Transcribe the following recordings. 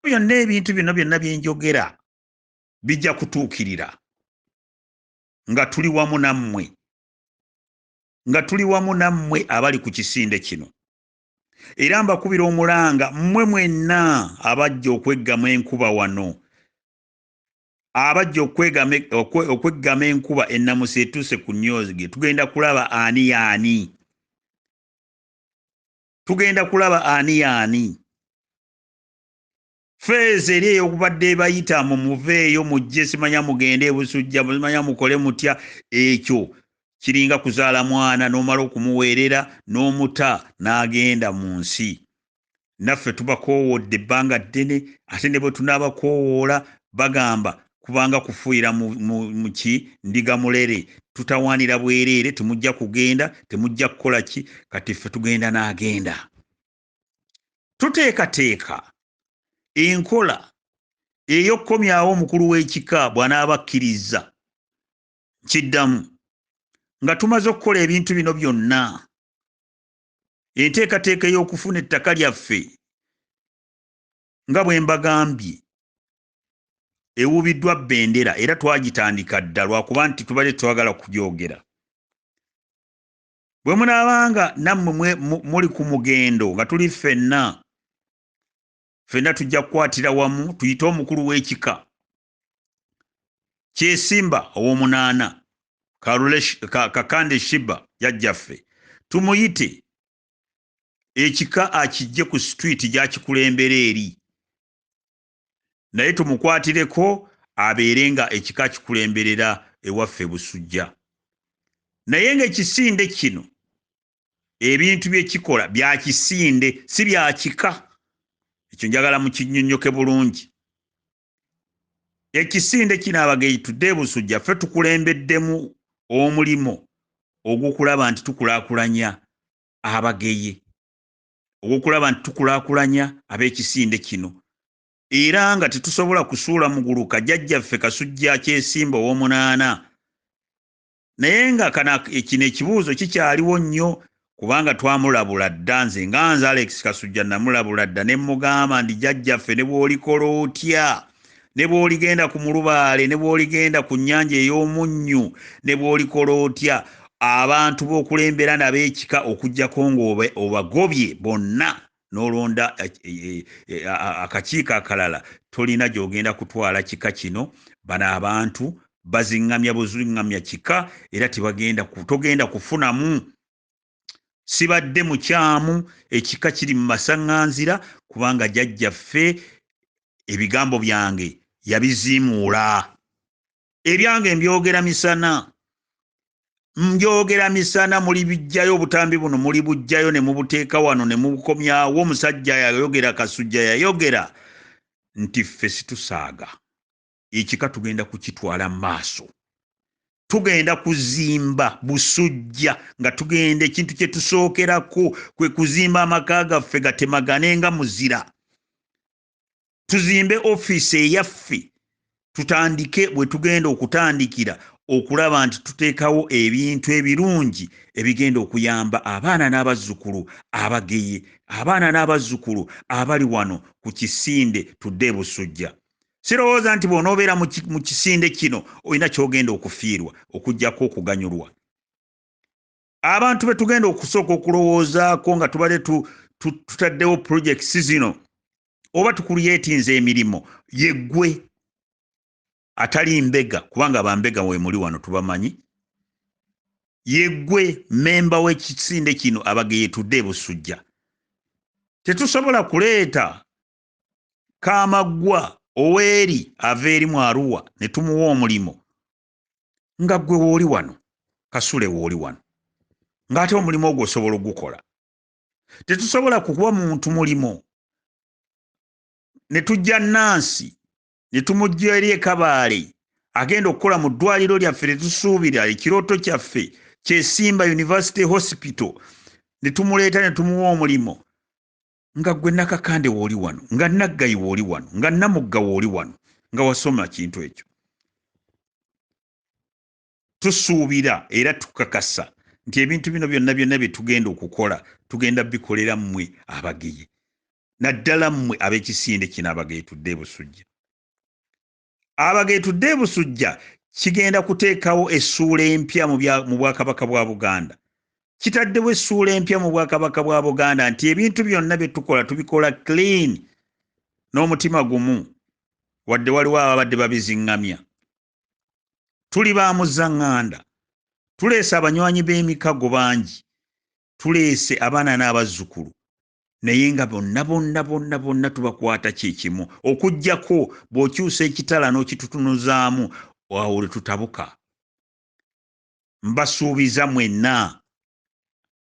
byonna ebintu bino byonna bye njogera bijja kutuukirira nga tuli wamu nammwe nga tuli wamu nammwe abali ku kisinde kino era mbakubira omulanga mmwe mwenna abajja okweggama enkuba wano abajja okweggama enkuba ennamusa etuuse ku nyoge tugenda kulaba ani yaani tugenda kulaba ani yaani feezo eri eyokubadde ebayita mu muveeyo mujje simanya mugende ebusujja simanya mukole mutya ekyo kiringa kuzaala mwana n'omala okumuweerera n'omuta n'agenda mu nsi naffe tubakoowodde ebbanga ddene ate ne bwe tunaabakoowoola bagamba kubanga kufuuyira muki ndiga mulere tutawaanira bwereere temujja kugenda temujja kukola ki kati ffe tugenda n'agenda tuteekateeka enkola ey'okukomyawo omukulu w'ekika bw'anaaba akkirizza kiddamu nga tumaze okukola ebintu bino byonna enteekateeka ey'okufuna ettaka lyaffe nga bwe mbagambye ewubiddwa bendera era twagitandika dda lwakuba nti tubadde twagala kugyogera bwe munaabanga nammwe muli ku mugendo nga tuli ffenna ffenna tujja kukwatira wamu tuyite omukulu w'ekika kyesimba ow'omunaana kakande shiba yajjaffe tumuyite ekika akijje ku situiti gyakikulembera eri naye tumukwatireko abeere nga ekika kikulemberera ewaffe busujja naye nga ekisinde kino ebintu byekikola byakisinde si byakika ekyo njagala mukinyonyoke bulungi ekisinde kino abageyi tudde ebusujja ffe tukulembeddemu omulimu ogwokulaba nti tukulakulanya abageyi ogw'okulaba nti tukulaakulanya ab'ekisinde kino era nga tetusobola kusuula muguluka jjajjaffe kasujja kyesimba ow'omunaana naye nga kana kino ekibuuzo kikyaliwo nnyo kubanga twamulabula dda nze nga nze alex kasujja namulabula dda ne mugamba ndi jjajjaffe ne bw'olikola otya ne bw'oligenda ku mulubaale ne bw'oligenda ku nnyanja ey'omunnyu ne bw'olikola otya abantu b'okulembera nabo ekika okuggyako ng'obagobye bonna n'olonda eh, eh, eh, akakiiko akalala tolina gy'ogenda kutwala kika kino bano abantu baziŋŋamya buziŋŋamya kika era tebagenda togenda kufunamu sibadde mukyamu ekika kiri mu masaŋŋanzira kubanga jajjaffe ebigambo byange yabiziimuula ebyange mbyogera misana mbyogera misana muli bijjayo obutambi buno muli bujjayo ne mubuteeka wano ne mubukomyawo omusajja yayogera kasujja yayogera nti ffe situsaaga ekika tugenda kukitwala maaso tugenda kuzimba busujja nga tugenda ekintu kye tusookerako kwe kuzimba amaka gaffe gatemagane nga muzira tuzimbe ofiisi eyaffe tutandike bwe tugenda okutandikira okulaba nti tuteekawo ebintu ebirungi ebigenda okuyamba abaana n'abazzukulu abageye abaana n'abazzukulu abali wano ku kisinde tudde ebusujja sirowooza nti bw'onoobeera mu kisinde kino olina ky'ogenda okufiirwa okugyako okuganyulwa abantu be tugenda okusooka okulowoozaako nga tubadde tutaddewo purojekisi zino oba tukulyetinza emirimu yeggwe atali mbega kubanga bambega wemuli wano tubamanyi yeggwe mmemba w'ekisinde kino abageyetudde ebusujja tetusobola kuleeta kamaggwa oweeri ava eri mu aruwa ne tumuwa omulimu nga ggwe wooli wano kasule wooli wano ng'ate omulimu ogwo osobola ogukola tetusobola kukuba muntu mulimu ne tujja nansi ne tumujja eri ekabaale agenda okukola mu ddwaliro lyaffe tetusuubira ekirooto kyaffe kyesimba university hospital ne tumuleeta ne tumuwa omulimu nga gwe nakakande wooli wano nga naggayi wooli wano nga namugga wooli wano nga wasoma kintu ekyo tusuubira era tukakasa nti ebintu bino byonna byonna bye tugenda okukola tugenda bikolera mmwe abageye naddala mmwe ab'ekisinde kino abageye tudde ebusujja abageetudde e Busujja kigenda kuteekawo essuula empya mu Bwakabaka bwa Buganda. Kitaddewo essuula empya mu Bwakabaka bwa Buganda nti ebintu byonna bye tukola tubikola clean n'omutima gumu wadde waliwo ababadde babiziŋŋamya. Tuli ba muzzaŋŋanda, tuleese abanywanyi b'emikago bangi, tuleese abaana n'abazzukulu, naye nga bonna bonna bonna bonna tubakwata kyekimu okujjako bw'okyusa ekitala n'okitutunuzaamu awo lwe tutabuka mbasuubiza mwenna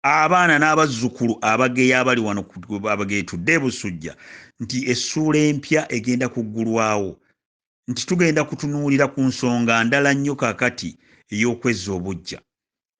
abaana n'abazzukulu abageya abali wano abageetudde ebusujja nti essuula empya egenda kuggulwawo nti tugenda kutunuulira ku nsonga ndala nnyo kakati ey'okwezza obujja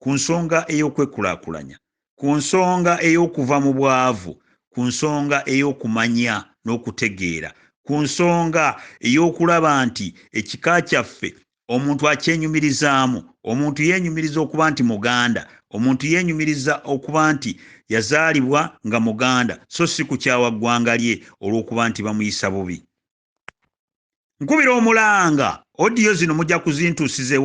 ku nsonga ey'okwekulaakulanya, ku nsonga ey'okuva mu bwavu, ku nsonga ey'okumanya n'okutegeera, ku nsonga ey'okulaba nti ekika kyaffe omuntu akyenyumirizaamu, omuntu yeenyumiriza okuba nti Muganda, omuntu yeenyumiriza okuba nti yazaalibwa nga Muganda so si kukyawa ggwanga lye olw'okuba nti bamuyisa bubi. nkubira omulanga odiyo zino mujja kuzintusiza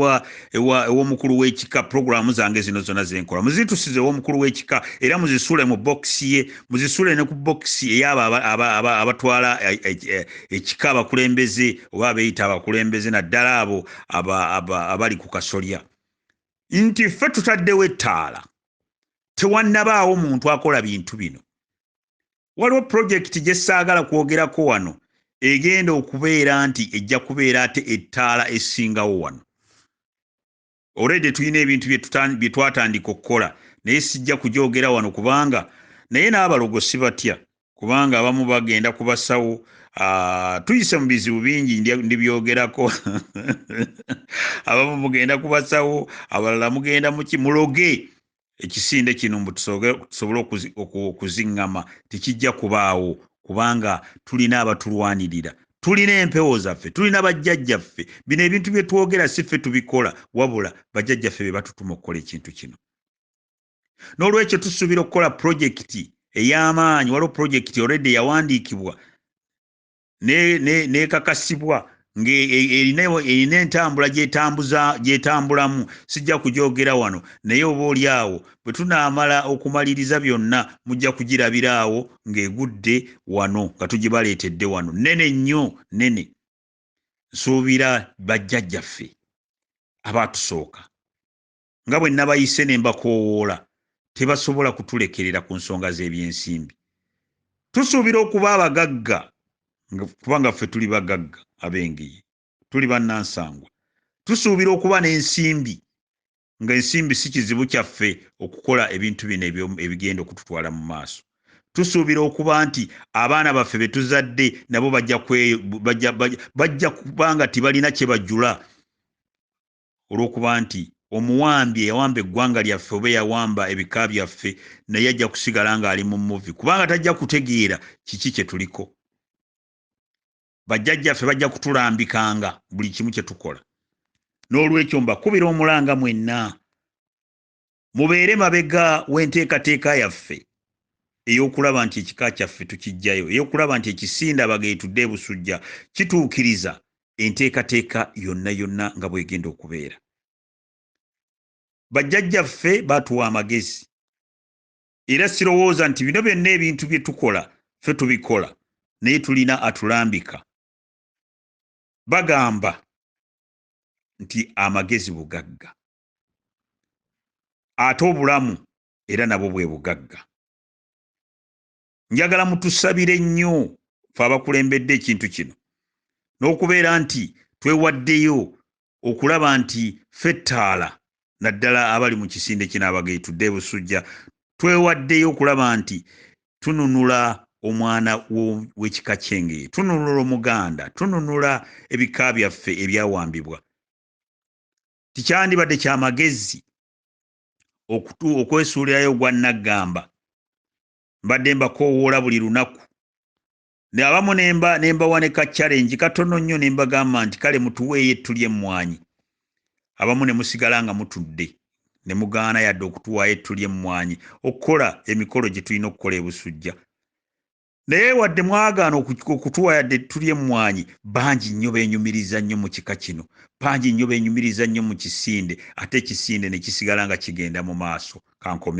ewomukulu wekika puroguramu zange zino zona zenkola muzintusiza ewomukulu wekika era muzisule mu bokisi ye muzisule ne ku bokisi eyaabo abatwala e, e, e, ekika abakulembeze oba abeyita abakulembeze naddala abo abali ku kasolya nti ffe tutaddewo ettaala tewannabaawo muntu akola bintu bino waliwo pulojekiti gye saagala kwogerako wano egenda okubeera nti ejja kubeera ate ettaala esingawo wano olwedde tulina ebintu bye twatandika okukola naye sijja kujoogera wano kubanga naye n'abalogo si batya kubanga abamu bagenda ku basawo Ah, tuyise mu bizibu bingi ndibyogerako abamu mugenda kubasawo abalala mugenda muki muloge ekisinde kino mbu tusobole okuziŋŋama tekijja kubaawo kubanga tulina abatulwanirira tulina empewo zaffe tulina bajjajjaffe bino ebintu bye twogera si ffe tubikola wabula bajjajjaffe be batutuma okukola ekintu kino n'olwekyo tusuubira okukola pulojekiti ey'amaanyi waliwo pulojekiti olredi yawandiikibwa n'ekakasibwa ng'erina e, e, entambula gyetambulamu sijja kugyogera wano naye oba oli awo bwe tunaamala okumaliriza byonna mujja kugirabira awo ng'egudde wano nga tugibaleetedde wano nene nnyo nene nsuubira bajjajjaffe abaatusooka nga bwe nabayise ne mbakoowoola tebasobola kutulekerera ku nsonga z'ebyensimbi tusuubira okuba abagagga kubanga ffe tuli bagagga ab'engeye tuli bannansangwa tusuubira okuba n'ensimbi ng'ensimbi si kizibu kyaffe okukola ebintu bino ebigenda okututwala mu maaso tusuubira okuba nti abaana baffe be tuzadde nabo bajja kuba nga tebalina kye bajula olw'okuba nti omuwambi eyawamba eggwanga lyaffe oba eyawamba ebika byaffe naye ajja kusigala ng'ali mu muvi kubanga tajja kutegeera kiki kye tuliko bajjajjaffe bajja kutulambikanga buli kimu kye tukola n'olwekyo mbakubira omulanga mwenna mubeere mabega w'enteekateeka yaffe ey'okulaba nti ekika kyaffe tukijjayo ey'okulaba nti ekisinde abageetudde ebusujja kituukiriza enteekateeka yonna yonna nga bwegenda okubeera bajjajjaffe baatuwa amagezi era sirowooza nti bino byonna ebintu bye tukola ffe tubikola naye tulina atulambika bagamba nti amagezi bugagga ate obulamu era nabwo bwe bugagga njagala mutusabire nnyo fe abakulembedde ekintu kino n'okubeera nti twewaddeyo okulaba nti fe ettaala naddala abali mu kisinde kinaabagei tudde ebusujja twewaddeyo okulaba nti tununula omwana w'ekika kyengeye tununula omuganda tununula ebika byaffe ebyawambibwa tikyandibadde kya magezi okutu okwesuulirayo ogwa naggamba mbadde mbakoowoola buli lunaku abamu nemba nembawa ne ka challenge katono nnyo ne mbagamba nti kale mutuweeyo ettu ly'emmwanyi abamu ne musigala nga mutudde ne mugaana yadde okutuwaayo ettu ly'emmwanyi okukola emikolo gye tulina okukola ebusujja naye wadde mwagaana okutuwa yadde tuli emmwanyi bangi nnyo benyumiriza nnyo mu kika kino bangi nnyo benyumiriza nnyo mu kisinde ate ekisinde ne kisigala nga kigenda mu maaso kankomewo